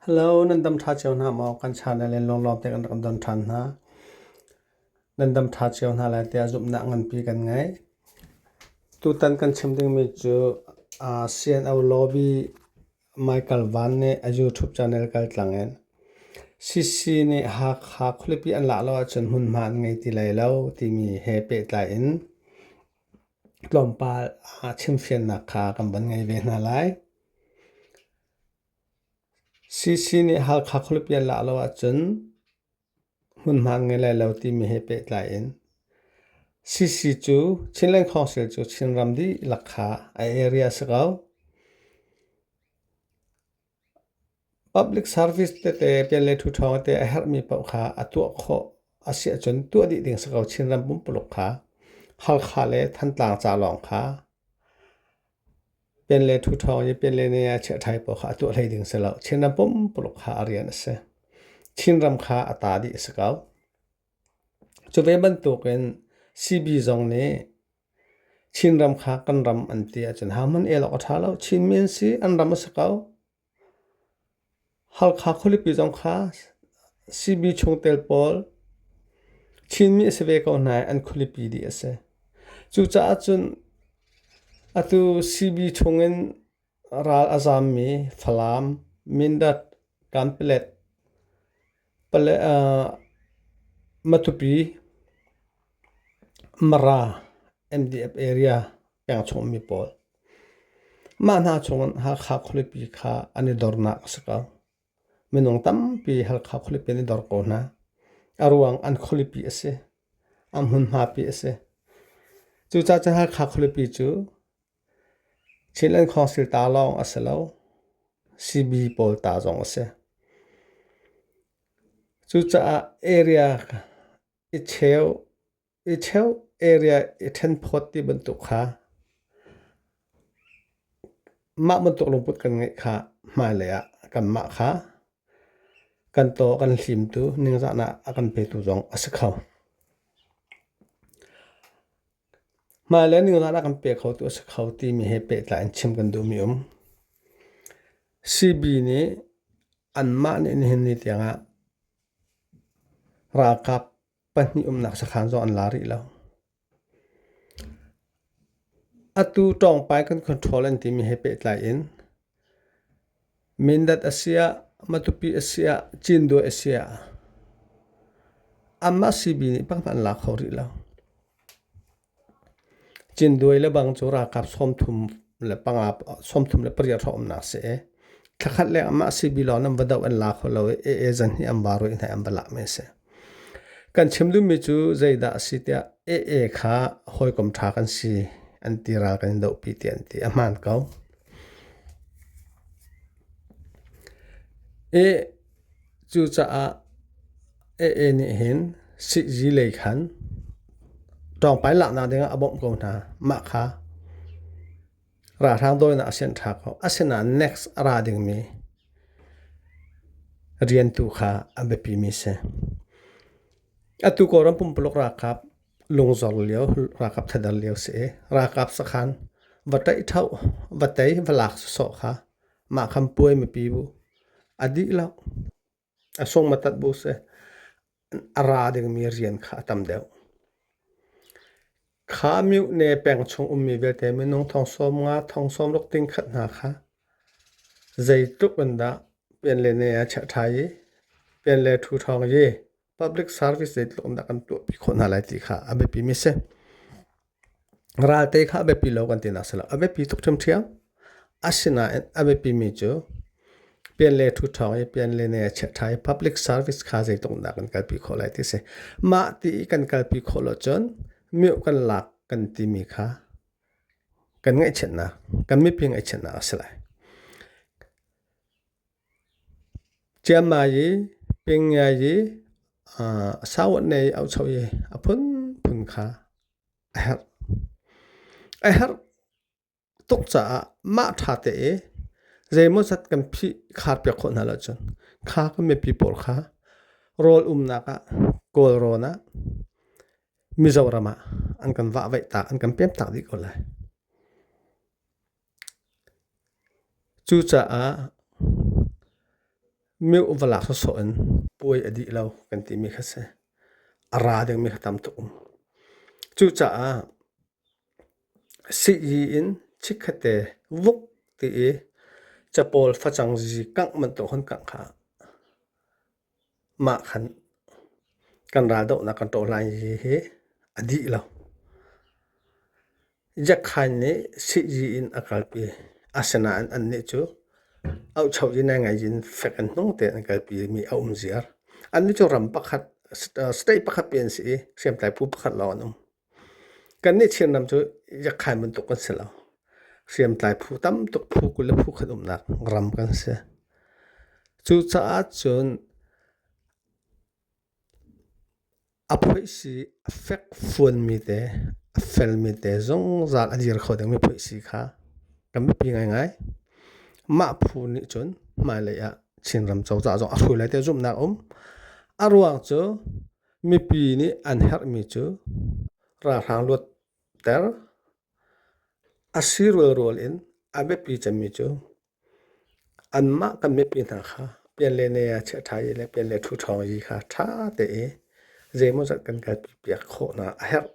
Hello nan dam ṭha cio hna maw? Kan channel in lawnglawng te kan rak don ṭhan hna. Nan dam ṭha cio hna lai tiah zumhnak nganpi kan ngei. Tutan kan chim dingmi cu aa CNO lobby Michael Van nih a YouTube channel kaltlang in CC nih Hakha khualipi an lak lo ahcun hmunhma an ngei ti lai lo timi he pehtlai in Tlawmpal ah chimfiannak kha kan van ngei ve hna lai. CC nih Halkha khualipi an lak lo ahcun hmunhma an ngei lai lo timi he pehtlai in CC cu Chinland Council cu Chinram dihlak kha a area a si ko. Public service tete pian le ṭhu ṭhawng te a herhmi paoh kha a tuah khawh a si ahcun tuah dih ding si ko. Chinram pumpuluk kha Halkha le Thantlang ca lawng kha pian le ṭhu ṭhawng i pian le nea chiah ṭhai paoh kha a tuah hlei ding si lo. Chinram pumpuluk kha a rian a si. Chinram kha a ta dih a si ko. Cu ve bantukin CB zong nih Chinram kha kan ram an ti ahcun haman elawk a ṭha lo. Chinmi an si, an ram a si ko. Halkha khualipi zong kha CB chungtel pawl Chinmi a si ve ko hna i an khualipi dih a si. Cucaah cun atu CB chungin Ral a zammi Falam, Mindat, Kanpelet, Matupi, Mara, MDF area peng chungmi pawl. Mah hna chungin Hakha khualipi kha an i dornak a si ko. Minung tampi Halkha khualipi an i dor ko hna. A ruang an khualipi a si. An hmunhmapi a si. Cucaah cun Hakha khualipi cu Thil'an khawngsil ta lawng a si lo, sibi pawl ta zong a si. Cucaah area i cheu, i cheu area i ṭhenphawt ti bantuk kha mah bantuk lungput kan ngeih kha hmailei ah kanmah kha kan taw a kan hlimtu ningzahnak a kan petu zong a si kho. Hmai le ningzah ah kan pe kho tu a si kho timi he pehtlai in chim kan duhmi um. CB nih anmah nih nihin ni tiangah ralkap pahnih umnak sakhan zong an la rih lo. Atu ṭawngpai kan control an timi he pehtlai in Mindat a si ah, Matupi a si ah, Cindawe a si ah amah CB nih pakhat an lak kho rih lo. Cindawe le bang cu ralkap sawmthum le panga, sawmthum le pariat hrawk umnak si i thlakhat leng amah CB lawng nan va doh an la kho lo i AA zan hi an va ruih hna i an va lak mi a si. Kan chim duhmi cu zeidah a si tiah AA kha hawikom ṭha kan si an ti ral kan i dohpi ti an ti. A hmaan ko. Cucaah Aa nih hin sihzi lei khan ṭawngpai laknak dingah a bawmh ko hna. Mah kha ralhrang dawinak a sianh ṭha ko. Asinain NACS a ra dingmi rian tu kha a biapimi si. Atu Kawlram pumpuluk ralkap Lungzor lio ralkap thadar lio si i ralkap sakhan va ṭaih ṭhauh, va tei, va lak sawsawh kha mah khan puai mipi bu a dih lo. A sung matat bu si. A ra dingmi rian kha a tam deuh. Kha miu ne peng chung ummi vialte minung thong sawm nga, thong sawm ruk ting khat hna kha zeitluk in dah pian le ne a chiah ṭhai i pian le ṭhu ṭhawng i public service zeitluk in dah kan tuahpi khawh hna lai ti kha a biapimi a si. Ralte kha a biapi lo kan tinak a si lo. A biapi tuk ṭhiamṭhiam. Asinain a biapimi cu pian le ṭhu ṭhawng i pian le ne a chiah ṭha i public service kha zeitluk in dah kan kalpi khawh lai ti a si. Mah ti i kan kalpi khawh lo cun miuh kan lak kan timi kha kan ngaihchiatnak, kan miping ngaihchiatnak a si lai. Ciamai i pingiai i a sautnei aucho i a phunphun kha a herh. A herh tuk caah mah ṭha te i zeimawzat kan phih khar piak khawh hna lo cun kha kan mipi pawl kha rawl umnak ah kawl rawn ah Mizoram ah an kan vahvaih tak an kan pem tak dih ko lai. Cucaah meuh va lak sawsawh in puai a dih lo kan timi kha si. A ra dingmi kha tam tuk um. Cucaah sii in chikkhatte vuk ti i capawl facang zi kangh bantuk hun kangh kha Mah khan kan raldohnak kan tawh lai hi a dih lo. Jack Hein nih sihzi in a kalpi. Asinain annih cu auhcho in ai ngaih in fek in hnung tein an kalpi i mi a um ziar. Annih cu ram pakhat, state pakhat pi an si i hriamtlai phu pakhat lawng an um. Kan nih Chinram cu yakhain bantuk kan si lo. Hriamtlai phu tam tuk phu kul le phu khat umnak ram kan si. Cucaah cun a phoihsi a fek fuanmi te, a felmi te zungzal a dir kho dingmi phoihsi kha kan biapi ngaingai. Mah phu nih cun hmailei ah Chinram cozah zong a hruai lai tiah zumhnak a um. A ruang cu Mipi nih an herhmi cu ralhrang luatter, a si rualrual in a biapi cemmi cu anmah kan mipi hna kha pianlene ah chiah ṭha i le pianle ṭhu ṭhawng i kha ṭha te i zeimawzat kan kan pipiak khawhnak a herh.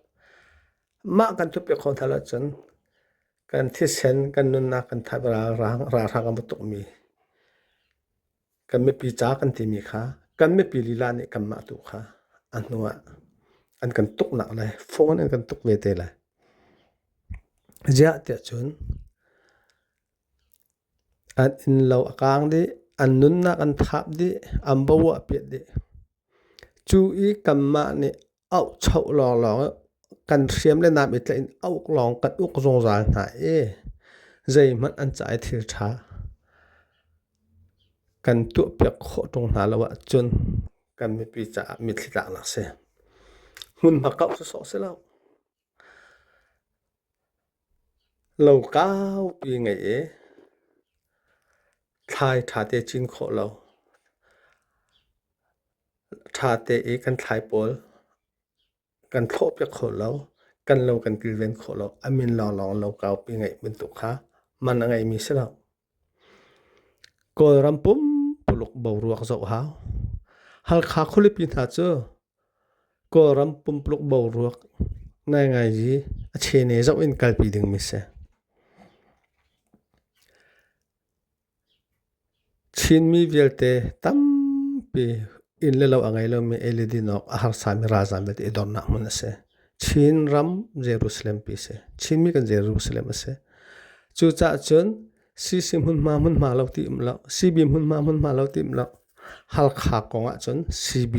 Mah kan pipiak khawh hna lo cun kan thisen, kan nunnak kan thaip ralhrang, ralhrang a bu tukmi kan mipi ca kan timi kha kan mipi lila nih kanmah tu kha a hnu ah an kan tuknak lai phone an kan tuk ve te lai ziah tiah cun an inn lo a kaang dih an nunnak an thap dih an bo a piat dih cu i kanmah nih auh choh lawnglawng kan hriam le nam i tlaih in auh lawng kan uk zungzal hna i zeihmanh an ca i thil ṭha kan tuahpiak khawh ṭung hna lo ahcun kan mipi caah mitthli tlaknak si. Hmunhma kauh sawsawh si lo. Lo kaupi ngei i thlai ṭha te cin khawh lo. Ṭha te i kan thlai pawl kan thlawhpiak kho lo. Kan lo kan kilven khawh lo. A min lawng lawng lo kaupi ngeih bantuk kha man a ngeimi si lo. Kawlram pumpuluk boruak zoh hau. Halkha khualipi hna cu Kawlram pumpuluk boruak ngaingaiji a chene zoh in kalpi dingmi si. Chinmi vialte tampi inn le lo a ngei lomi ei le din awk a harsami ralzam belte i dornak hmun a si. Chin ram Jerusalem pi si. Chinmi kan Jerusalem a si. Cucah cun CC hmunhma hmunhma lo ti um lo, CB hmunhma hmunhma lo ti um lo, Halkha kong ah cun CB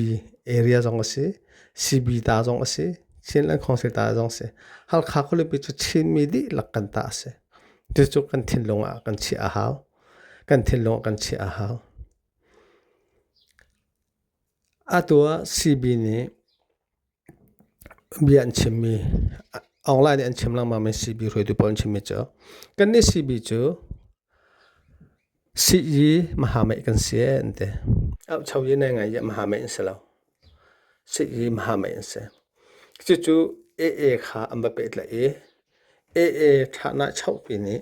area zong a si, CB ta zong a si, Chinland Council ta zong a si. Halkha khulipi cu Chinmi dihlak kan ta a si. Cucu kan thinlung ah kan chiah a hau. Kan thinlung ah kan chiah a hau. Atu ah CB nih Bia an chimmi online nih an chim lengmangmi CB hruaitu pawl an chimmi cu kan nih CB cu sii mahameih kan si ee an ti. Auhcho i nai ngaih i mahameih an si lo. Sii mahameih an si. Cucu AA kha an va pehtlaih i AA ṭhahnak chohpi nih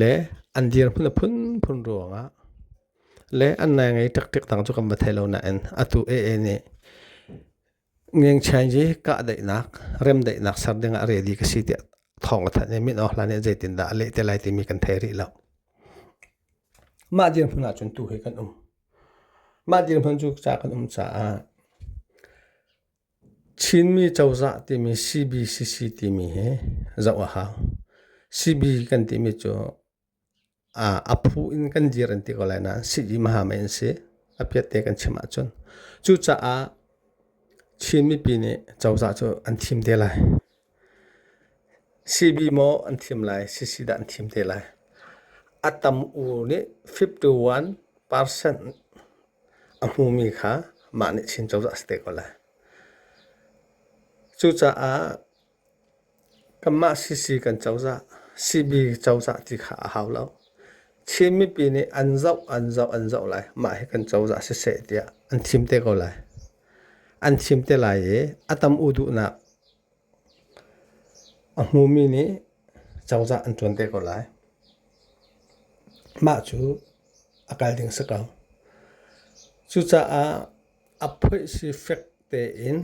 Le an dirhmun a phunphun ruangah le an nai ngei taktak tang cu kan va thei lo nain atu ee nih ngengchianji kahdaihnak remdaihnak ser dingah ready ka si tiah thawng a thanh i min awk hlan nih zeitindah a leh te lai timi kan thei rih lo. Mah dirhmun ah cun tu hi kan um. Mah dirhmun cu ca kan um caah Chinmi cozah timi CBCC timi hi zoh a hau. CB kan timi cu aa a phu in kan dir an ti ko lai nain sihni hmahami an si. A piatte kan chim ahcun. Cucaah Chin mipi nih cozah cu an thim te lai. Sibi maw an thim lai, sisi dah an thim te lai. A tam-u nih fifty-one percent a hmumi kha mah nih Chin cozah a si te ko lai. Cucaah kanmah sisi kan cozah, sibi cozah ti kha a hau lo. Chin mipi nih an zoh, an zoh, an zoh lai. Mah hi kan cozah siseh tiah an thim te ko lai. an chim te lai i a tam u duhnak a hmumi nih cozah an ṭuan te ko lai. Mah cu a kal ding si ko. Cucaah a phoih si fek tein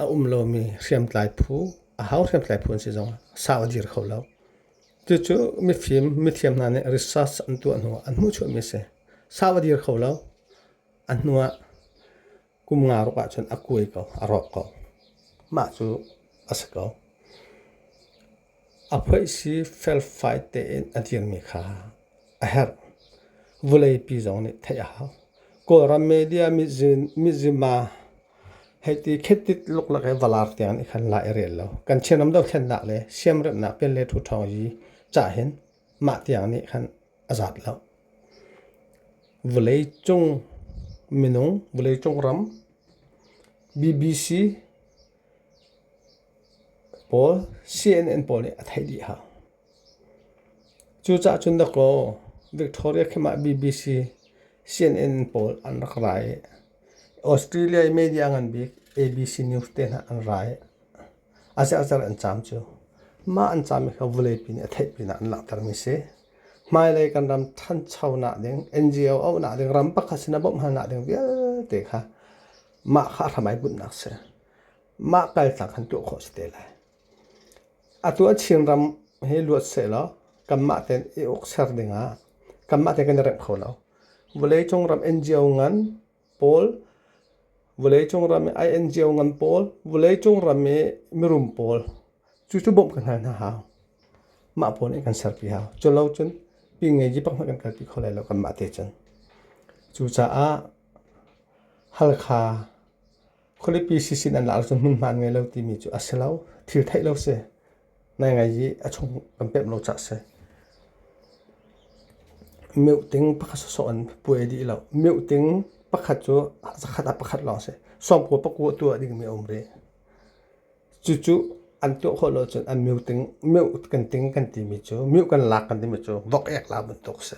a um lomi hriamtlai phu, a hau hriamtlai phu an si zong sau a dir kho lo. Cucu mifim, mithiam hna nih research an tuah hnu an hmuhchuahmi a si. Sau a dir kho lo. A hnuah kum nga ruk ahcun a kuai ko, a rawk ko. Mah cu a si ko. A phoisi felfai tein a dirmi kha a herh. Vuleipi zong nih theih a hau. Kawlram media mizima hei ti khetit luklak i valaar tiang nih khan la i rel lo. Kan Chinram dohthlennak le siamremhnak pen le ṭhu ṭhawng i cah hin mah tiang nih khan a zat lo. Vawleicung minung, vawleicung ram, BBC pawl, CNN pawl nih a theih dih hau. Cucaah cun dakaw Victoria khi mah BBC CNN pawl an rak ra i Australia i media ngan bik ABC News te hna an ra i A ziazer an caam cu mah an caam i kha vuleipi nih a theih pinah an langhtermi a si. Hmailei kan ram ṭhanchonak ding, NGO auhnak ding, ram pakhat sin a bawmh halnak ding vialte kha mah kha a hramai bunhnak a si. Mah kaltak kan tuah khawh a si te lai. Atu a Chinram hi luat sehlaw kanmah tein i ukser dingah kanmah tein kan i rengh kho lo. Vawleicung ram NGO ngan pawl, vawleicung ram i a in cio ngan pawl, vawleicung ram i mirum pawl, cu cu bawmh kan hal hna hau. Mah pawl nih kan serpi hau. Cu lo cun pi ngei ji pak hmanh kan kalpi kho lai lo kanmah te cun. Cucaah Halkha khualipi si sin an laar cu hmunhma an ngei lo timi cu a si lo. Thil theih lo si. nai ngai i a chung kan pemh lo cah si. Meuh ting pakhat sawsawh in puai dih lo. Meuh ting pakhat cu zakhat ah pakhat lawng si. Sawmpua paku a tuah dingmi a um rih. Cucu an tuah khawh lo cun an meuh ting, meuh kan ting kan timi cu, meuh kan lak kan timi cu vok ek la bantuk si.